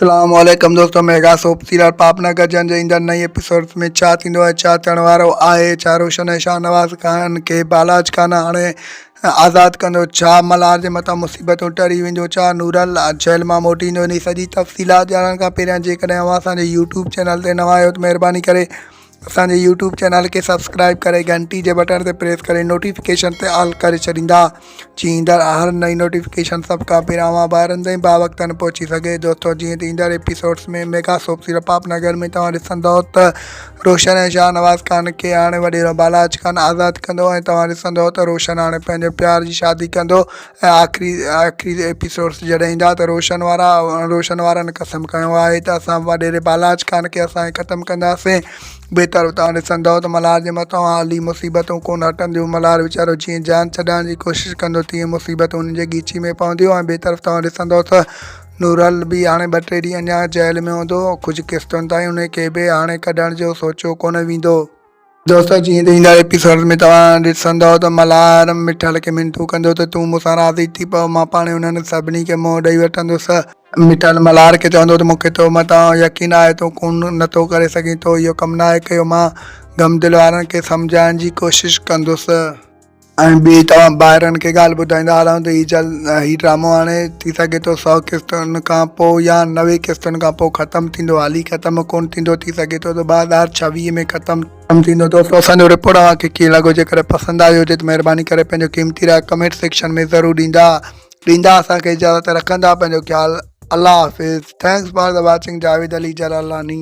اسلام عليڪم دوستو ميگا سوپ سيريل پاپ نه گڏجڻ جي ايندڙ نئين ايپيسوڊز ۾ ڇا ٿيندو ۽ ڇا ٿيڻ وارو آهي ڇا روشن ۽ شاهنواز خان کي بالاچ خان آڻي آزاد ڪندو ڇا ملهار جي مٿان مصيبتون ٽري وينديون ڇا نورل جيل مان موٽي ايندو انهي سڄي تفصيلات ڄاڻڻ کان پهريان جيڪڏهن اوهان اسان جي يوٽيوب چينل تي نوان آهيو ته مهرباني ڪري اسان جي يوٽيوب چينل کي سبسڪرائب ڪري گهنٽي جي بٽڻ تي پريس ڪري نوٽيفڪيشن تي آل ڪري ڇڏيندا جي ايندڙ هر نئين نوٽيفڪيشن سڀ کان پهريان اوهان ڀائرن تائين باوقتن پهچي سگهي دوستو جيئن ته ايندڙ ايپيسوڊس ۾ ميگا سوپ سيرو پاپ نگر ۾ توهان ڏسندو ته روشن ۽ شاهنواز خان کي هاڻي وڏيرو بالاچ خان آزاد ڪندو ۽ توهان ڏسندو ته روشن هاڻي پنهنجو پيار جي شادي ڪندو ۽ آخري آخري ايپيسوڊس جڏهن ايندا ته روشن وارا روشن وارن قسم کنيو آهي ته اسان وڏيري بالاچ خان کي اسان هي ختم ڪنداسين بهتر اتان ڏسندؤ ته ملهار جي مٿان حالي مصيبتون ڪونه هٽنديون ملهار ويچارو جيئن جان ڇڏائڻ جي ڪوشش ڪندو تيئن مصيبتون ان جي ڳيچي ۾ پونديون ۽ بهتر اتان ڏسندؤ ته نورل به هاڻي ٻه ٽي ڏينهن اڃان جيل ۾ هوندو ڪجهه قسطن تائين انهي کي به هاڻي ڪڍڻ جو سوچيو ڪونه ويندو. دوستو جيئن ته ايندڙ ايپيسوڊز ۾ توهان ڏسندؤ ته ملهار مٺل کي منٿون ڪندو ته تون مون سان راضي ٿي پو مان پاڻهي انهن سڀني کي منهن ڏئي وٺندس. مٺل ملهار کي چوندو ته مون کي تو مٿان يقين آهي تون خون نه ٿو ڪري سگهين تو اهو ڪم ناهي ڪيو مان غمدل وارن کي سمجهائڻ جي ڪوشش ڪندس. ۽ ٻي توهان ڀائرن کي ڳالهه ٻڌائيندا هلان ته هي جلد هي ڊرامو هاڻي ٿي سگهي ٿو سؤ قسطن کان پوء يا نوي قسطن کان پوء ختم ٿيندو هالي ختم ڪونه ٿيندو ٿي سگهي ٿو ته ٻه هزار ڇويهه ۾ ختم ٿيندو دوستو اسان جو رپورٽ اوهان کي ڪيئن لڳو جيڪڏهن پسند آيو هجي ته مهرباني ڪري پنهنجو قيمتي راء ڪمينٽ سيڪشن ۾ ضرور ڏيندا ڏيندا اسان کي اجازت رکندا پنهنجو خيال الله حافظ thanks for the watching Javed Ali Jalalani